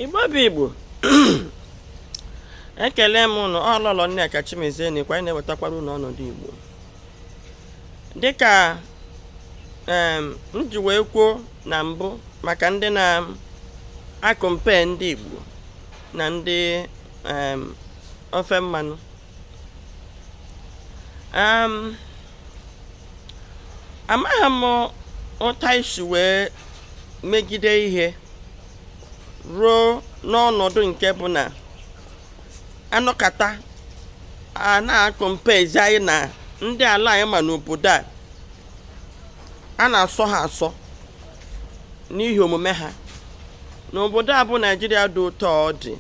igbo bụ igbo ekele m ụnụ ọlọlọ nneka chimezie na ikwa anyị na-ewetakwara ụnụ ọnọdụ igbo dịka m ji wee kwuo na mbụ maka ndị na-acompare ndị igbo na ndị ofe mmanụ um, amaghị m ụta e si wee megide ihe ruo n'ọnọdụ nke bụ na anọkata a na-acomparezi anyị na ndị ala anyị ma n'obodo a a na-asọ ha asọ n'ihi omume ha n'obodo a bụ naijiria dị ụtọ ọ dị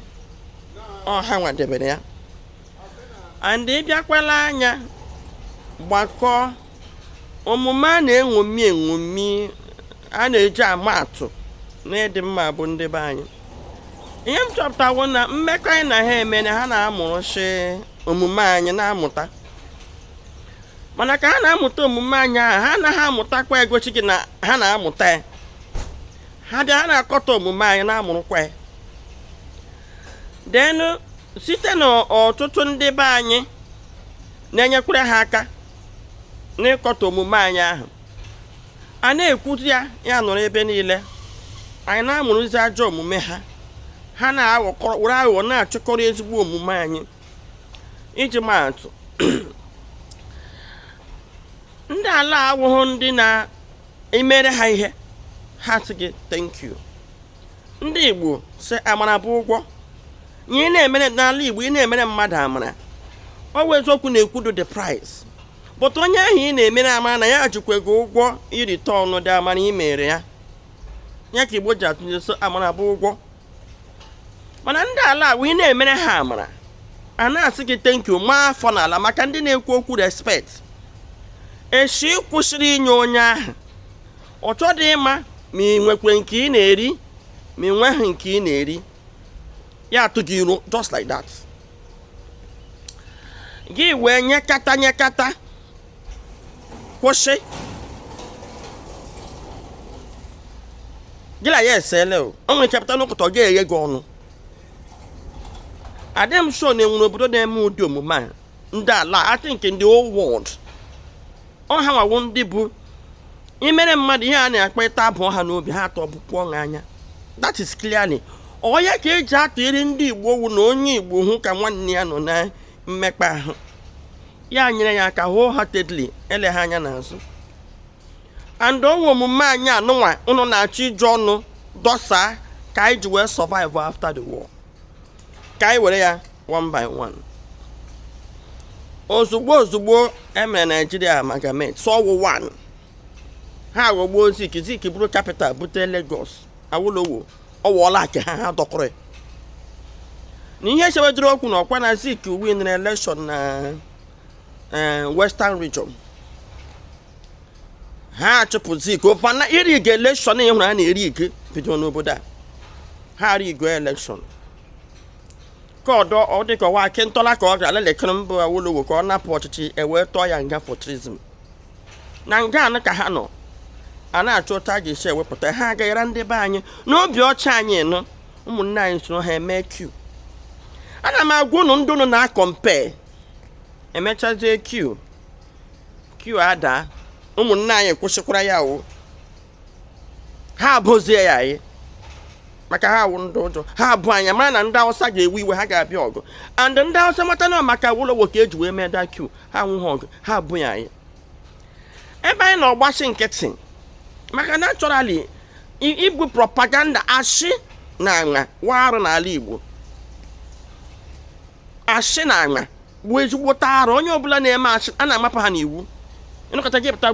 ọha nwadebere ya and ị bịakwala anya gbakọọ omume a na-eṅomi eṅomi a na-eji ama atụ n'ịdị mma bụ ndị be anyị ihe m chọpụtawo na mmekọ anyị na ha eme na ha na-amụrụchi omume anyị na-amụta mana ka ha na-amụta omume anyị ahụ ha anaghị amụtakwa egochi gị na ha na-amụta ya ha bịa ha na-akọtọ omume anyị na-amụrụkwa ya then site n'ọtụtụ ndị be anyị na-enyekwara ha aka n'ịkọtọ omume anyị ahụ a na-ekwuzi ya ya nọrọ ebe niile anyị na-amụrụzi ajọ omume ha ha na-ewere aghụghọ na-achịkọrọ ezigbo omume anyị iji maa atụ ndị ala awụghụ ndị na-emere ha ihe ha sị gị thank you ndị Igbo sị amara bụ ụgwọ ihe ị na-emere n'ala Igbo ị na-emere mmadụ amara ọ bụ eziokwu na-ekwudo the price but onye ahụ ị na-emere amara na ya jikwa gị ụgwọ ireturn ụdị amara ị mere ya ya ka Igbo ji atụ ilu sị amara bụ ụgwọ mana ndị ala agwa ị na-emere ha amara ha na-asị gị thank you maa afọ n'ala maka ndị na-ekwu okwu respect echi ị kwụsịrị inye onye ahụ ọ chọdị ịma ma ị nwekwe nke ị na-eri ma ị nweghị nke ị na-eri ya atụ gị iro just like that gị wee nyekata nyekata kwụsị gị na ya esele o o nwere chepụta n'ụkụtọ ga-eghe gị ọnụ adị m sure na e nwere obodo na-eme ụdị omume a ndị ala atị nke in the whole world ọ ha nwa wụ ndị bụ imere mmadụ ihe a na-akpa ịta abụ ọha n'obi ha atọ bụpụ ọṅụ anya that is clearly ọ ya ka eji atụnyere ndị igbo wu na onye igbo hụ ka nwanne ya nọ na mmekpa ahụ ya nyere ya aka wholeheartedly ele ha anya n'azụ and ọ nwa omume anyị anụnwa ụnụ na-achọ iji ọnụ dọsaa ka anyị ji wee survive after the war ka anyị were ya one by one ozugbo ozugbo e mere Nigeria amalgamate sị ọ wụ one ha aghọgbuo zik zik buru capital bute Lagos Awolowo ọ wụọla aka ha ha dọkọrọ na ihe chebedoro okwu na ọkwa na zik winiri election na eh, western region ha achụpụ Zik o mana irigi election ị hụrụ ha na-erigi bido n'obodo a ha rigio election ka ọdọ ọ dịka ọ wụ Akintola ka ọ gara lelekere mba awolowo ka ọ napụ ọchịchị e wee tụọ ya nga for treason na nga anụ ka ha nọ a na-achọ otu a ga-esi ewepụta ha agaghara ndị be anyị n'obi ọcha anyị nọ ụmụnne anyị soro ha mee coup ana m agwa ụnụ ndị ụnụ na-acompare e mechazie coup coup ada ụmụnne anyị kwụsịkwara ya o ha ebozie ya anyị maka ha wụ ndị ụjọ ha abụ anya mara na ndị awụsa ga-ewe iwe ha ga-abịa ọgụ and ndị awụsa mata na maka Awolowo ka eji wee mee that coup ha nwụghị ọgụ ha ebo ya anyị ebe anyị na-agbachi nkịtị maka naturally igbo propaganda ashị na aṅa wụ arụ n'ala igbo ashị na aṅa bụ ezigbo arụ onye ọbụla na-eme ashị a na-amapụ ha n'iwu ịnọkọta gị pụta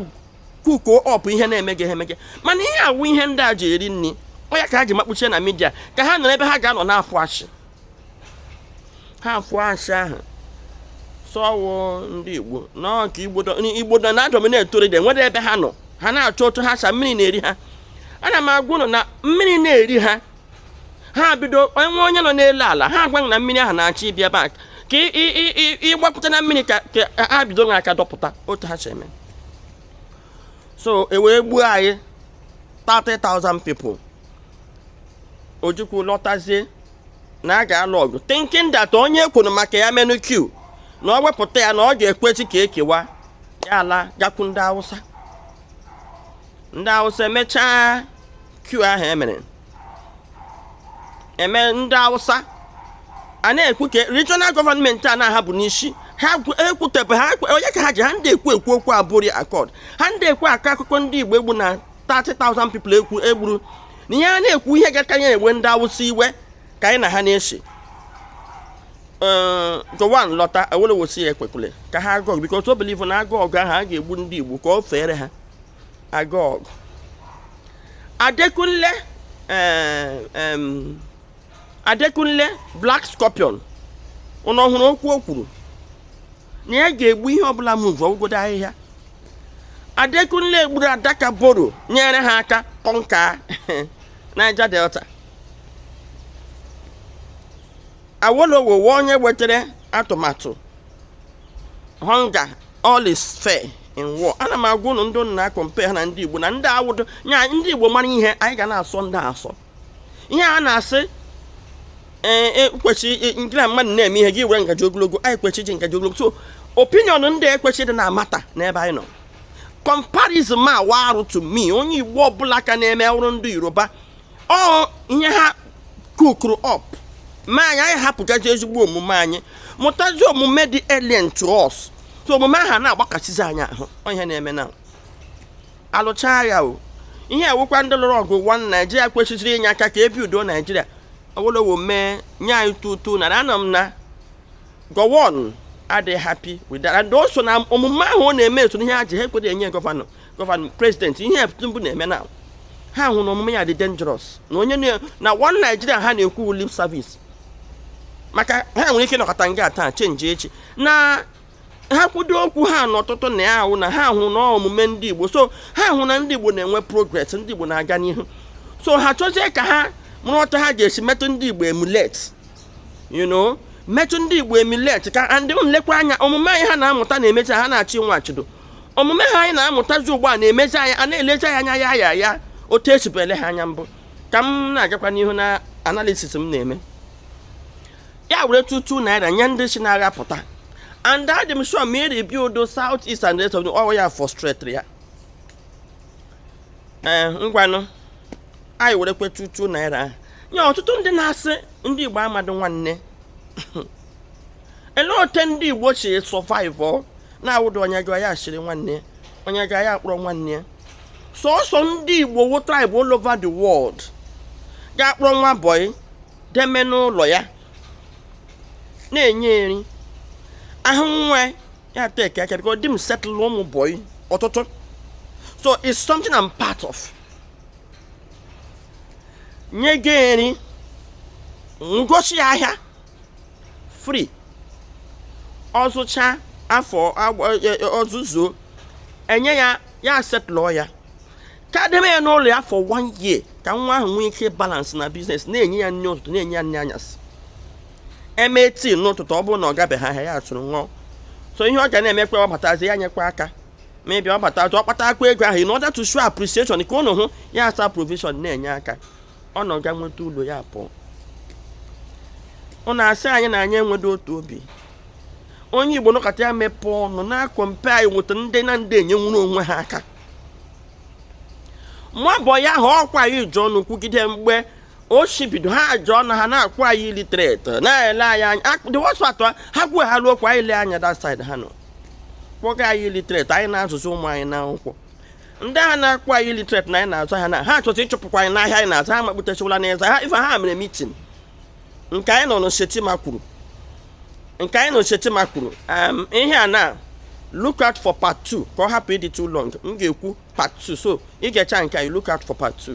kuko ọpụ ihe na-eme gị emege mana ihe a wụ ihe ndị a ji eri nri ọ ya ka ha ji makpuchie na media ka ha nọrọ ebe ha ga-anọ na-afụ ashị ha afụ ashị ahụ sị ọ wụ ndị igbo n'ọka igbo dọ na-adominate already nwere ebe ha nọ ha na-achọ otu ha sa mmiri na-eri ha ana m agwa ụnụ na mmiri na-eri ha ha bidowe onye nọ n'elu ala ha agwa gị na mmiri ahụ na-achọ ịbịa back ka ị gbapụta na mmiri ka ha bido na aka dọpụta otu ha si eme so e wee gbuo anyị 30,000 people ojukwu lọtazie na a ga-alụ ọgụ thinking that onye kwuru maka ya menụ coup na ọ wepụta ya na ọ ga-ekwezi ka ekewa ya alaa gakwu ndị awụsa ndị awụsa emechaa coup ahụ emere eme ndị awụsa a na-ekwu ka regional gọọmenti a na ha bụ n'isi ha ekwutebe ha onye ka ha ji ha ndị ekwu ekwu okwu Aburi Accord ha ndị ekwu akọ akụkọ ndị igbo egbu na 30,000 people ekwu egburu na ihe a na-ekwu ihe ga-aka ya ewe ndị awụsa iwe ka anyị na ha na-asị Gowon lọta Awolowo sị ya ekwekwule ka ha gaa ọgụ because o believe na a gaa ọgụ ahụ a ga-egbu ndị igbo ka o feere ha a gaa ọgụ adekunle eh, adekunle black scorpion ụnụ ọ hụrụ okwu o kwuru na ya ga-egbu ihe ọbụla move ọ wụgodu ahịhịa adekunle gburu adaka boro nyere ha aka conquer Niger Delta awolowo onye wetara atụmatụ hunger all is fair in war ana m agwa ụnụ ndị ụnụ na-acompare ha na ndị igbo na ndị awụdụ nya ndị igbo mara ihe anyị ga na-asọ ndị a asọ ihe a na-asị ee e, kwesị e, gị na mmadụ na-eme ihe gị were ngaji ogologo anyị kwesị iji ngaji ogologo so opinion ndị a ekwesịdị na-amatter n'ebe anyị nọ comparison a wụ arụ to me onye igbo ọbụla ka na-eme ọrụ ndị yoruba ọ ihe ha cookuru up mee anyị anyị hapụgazi ezigbo omume anyị mụtazi omume dị alien to us so omume ahụ na-agbakasịzi anyị ahụ ọ ihe na-eme na alụchaa agha ihe ewekwa ndị lụrụ ọgụ one naijiria kwesịrị inye aka ka e buildụọ naijiria awolowo mee nye anyị tutu naira ama m na gowon adịghị happy with that and also na omume ahụ ọ na-eme so n'ihe ha ji ha ekwere enye gọvanọ gọvanọ prezidenti ihe Tinubu na-eme na ha hụ na omume ya dị dangerous na onye na one Nigeria ha na-ekwu lip service maka ha nwere ike ịnọkata nga taa change echi na ha kwudo okwu ha n'ọtụtụ na ya ahụ na ha hụ na omume ndị Igbo so ha hụ na ndị Igbo na-enwe progress ndị Igbo na-aga n'ihu so ha chọzie ka ha mụrụ otu ha ga-esi metụ ndị Igbo emulate you know metụ ndị igbo emulate ka and lekwa anya omume anyị ha na-amụta na-emecha ha na-achị nwa achịdo omume ha anyị na-amụtazi ugbu a na-emezi anyị a na-elezi anyị anya otu e sibu ele ha anya mbụ ka m na-agakwa n'ihu na analysis m na-eme ya were tutu naira nye ndị si na-agha pụta and adị m sure ma e rebuildụọ south east and rest of the ọwa ya frustrate ya ee ngwanụ anyị were kweta two naira ahụ nye ọtụtụ ndị na-asị ndị igbo amadụ nwanne ele ote ndị igbo si survive na-awụdụ onye jụọ ya asịrị nwanne onye jụọ ya akpọrọ nwanne sọsọ ndị igbo wụ tribe all over the world ga-akpọrọ nwa boy deme n'ụlọ ya na-enye nri ahụ nwa ya take aka ka ọ dị m settle ụmụ boy ọtụtụ so it's something I'm part of. nye gị nri gosi ya ahịa free ọ zụcha afọ e, e, ọzụzụ enye ya ya settle ya ka deme ya n'ụlọ ya for one year ka nwa ahụ nwee ike balance na business na-enye ya nri ụtụtụ na-enye ya nri anyasị e mee tea n'ụtụtụ ọ bụrụ na ọ gabeghị ahịa ya atụrụ ṅụọ so ihe ọ ga na-emekwa ọ batazi ya nyekwa aka maybe ọ bata ọ kpatakwa ego ahụ in order to show appreciation ka ụnụ hụ ya asa provision na-enye aka ọ nọga nweta ụlọ ya pụọ ụnụ asị anyị na anyị enwedo otu obi onye igbo nọkata ya mepee ọnụ na-acompare anyị with ndị na ndị enyenwuru onwe ha aka mabọ ya ha ọkwa ya iji ọnụ kwugide mgbe o shi bido ha ji ọnụ ha na-akpọ anyị illiterate na-ele anyị anya the worst part ha kwuo ha ruo kwa anyị lee anya that side ha nọ kpọga anyị illiterate anyị na-azụzi ụmụ anyị n'akwụkwọ ndị a na-akpọ anyị illiterate na anyị na-azụ ha na ha achọta ịchụpụkwa anyị n'ahịa anyị na-azụ ha makputechawala n'ezi ha ife ha mere meeting nke anyị nọ na Shettima kwuru nke anyị na Shettima kwuru ihe a na look out for part 2 ka ọ hapụ ịdị too long m ga-ekwu part 2 so ị ga-eche nke anyị look out for part 2